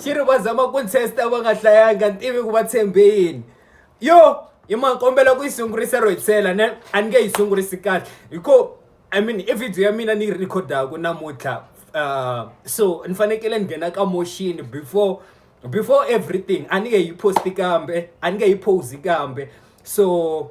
xi ri va zama ku test-a va nga hlayanga ni tivi ku va tshembe yini yo i ma kombela ku yi sungurisa ro hitlhela ne a ni nge yi sungurisi kahle hi ko i mean i video ya mina ni yi rhikhodaka namuntlha um so ni fanekele ni nghena ka motion before before everything a ni nge yi posti kambe a ni nge yi posi kambe so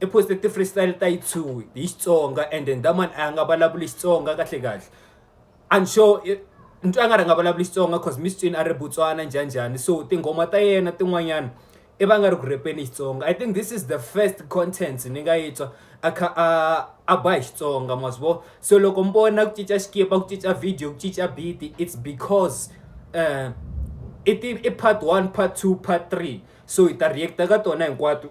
I post-e ti-free style ta yi two hi Xitsonga and then that man a nga vulavuli Xitsonga kahle kahle. I'm sure ni twa nga ri a nga vulavuli Xitsonga cause ni swi twini a ri Botswana njhani njhani so tinghoma ta yena tin'wanyana i va nga ri ku rhepeni Xitsonga. I think this is the first content ni nga yi twa a kha a a ba hi Xitsonga ma swi vona. Se loko mi vona ku cinca xikipa, ku cinca video, ku cinca beat-i it's because i part one, part two, part three so hi ta react-a ka tona hinkwato.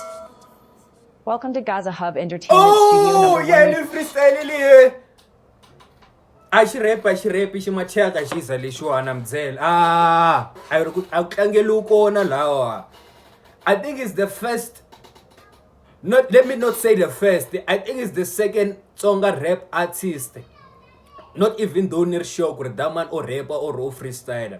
Welcome to Gaza Hub Entertainment oh, Studio number yeah, one. freestyle liye. A xi rap, a xi rap, xi macheka xi za lexiwana mdzela. Ah, a yi ri ku a ku tlangeliwi kona lawa. I think it's the first not let me not say the first. I think it's the second Tsonga rap artist. Not even though ni ri sure ku ri that man o rap or o freestyler.